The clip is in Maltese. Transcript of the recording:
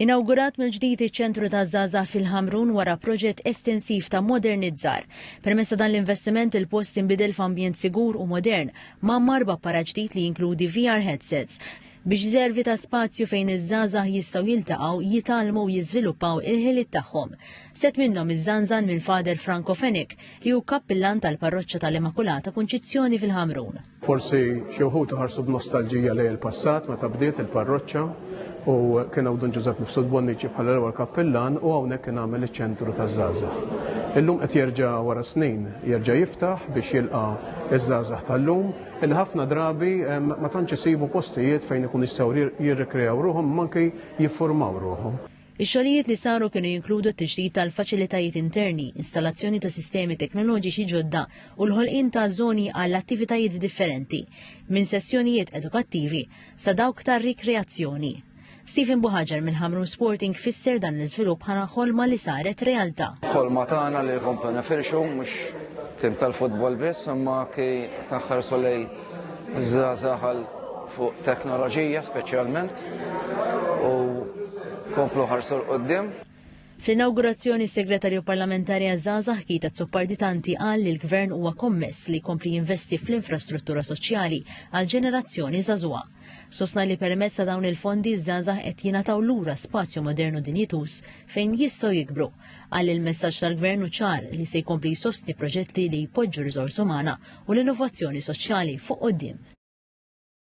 Inawgurat mill-ġdid iċ-Ċentru taż-Żgħażagħ fil-Ħamrun wara proġett estensiv ta' modernizzar. Permezz ta' dan l-investiment il-post inbidel f'ambjent sigur u modern, mgħammar b'apparat ġdid li jinkludi VR headsets, biex jservi ta' spazju fejn iż-żgħażagħ jistgħu jiltaqgħu, jitgħallmu u jiżviluppaw il-ħiliet tagħhom. Sett minnhom iżżanżan minn Father Franco Fenech, li hu Kappillan tal-Parroċċa tal-Immakulata Kunċizzjoni fil-Ħamrun. Forsi xi wħud ħarsu b'nostalġija lejn il-passat meta bdiet il-parroċċa u kien hawn Dun Ġużepp Mifsud Bonnici bħala l-ewwel kappillan u hawnhekk kien għamel iċ-ċentru taż-żgħażagħ. Illum qed jerġa' wara snin jerġa' jiftaħ biex jilqa' ż-żgħażagħ tal-lum li ħafna drabi ma tantx isibu postijiet fejn ikunu jistgħu jirrikrejaw ruħhom imma anki jiffurmaw ruħhom. Ix-xogħlijiet li saru kienu jinkludu t-tiġdid tal-faċilitajiet interni, installazzjoni ta' sistemi teknoloġiċi ġodda u l-ħolqien ta' żoni għal attivitajiet differenti, minn sessjonijiet edukattivi sa dawk ta' rikreazzjoni. Stephen Buhaġar minn Ħamrun Sporting fisser dan l-iżvilupp bħala ħolma li saret realtà. Ħolma tagħna li komplu nifirxu mhux tim tal-futbol biss imma anki ta' ħarsu lejn Zazaħal fuq teknoloġija speċjalment u komplu ħarsu l-qoddim. Fl-inawgurazzjoni s-Segretarju Parlamentari għaż-Żgħażagħ Kita Zupparditanti qal li l-Gvern huwa kommess li jkompli jinvesti fl-infrastruttura soċjali għal ġenerazzjoni żagħżugħa. Sostna li permezz ta' dawn il-fondi ż-żgħażagħ qed jingħataw lura spazju modernu dinjituż fejn jistgħu jikbru Qal li l-messaġġ tal-Gvern hu ċar li se jkompli jsostni proġetti li jpoġġu riżorsa umana u l-innovazzjoni soċjali fuq quddiem.